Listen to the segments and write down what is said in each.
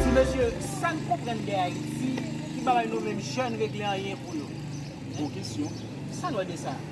Ti mesye sa n konprann de Ayiti ki pa bay nou menm jèn regle anyen pou yo? Bon kesyon. Sa n wè de sa?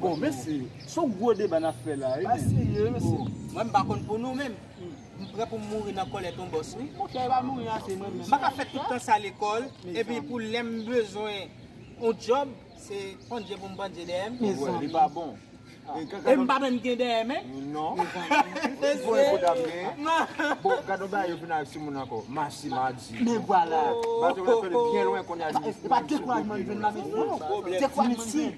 Bon mesye, son gwo deba nap fè la wi menm. Mwen m pa konn pou nou menm, m prè pou m mouri nan kòlè ton bòs wi. M pa ka fè tout tan sa lekòl, epi pou lè m bezwen yon djòb, se pandje pou m pandje dèyè m. E m pa menm gen dèyè men. Mesye!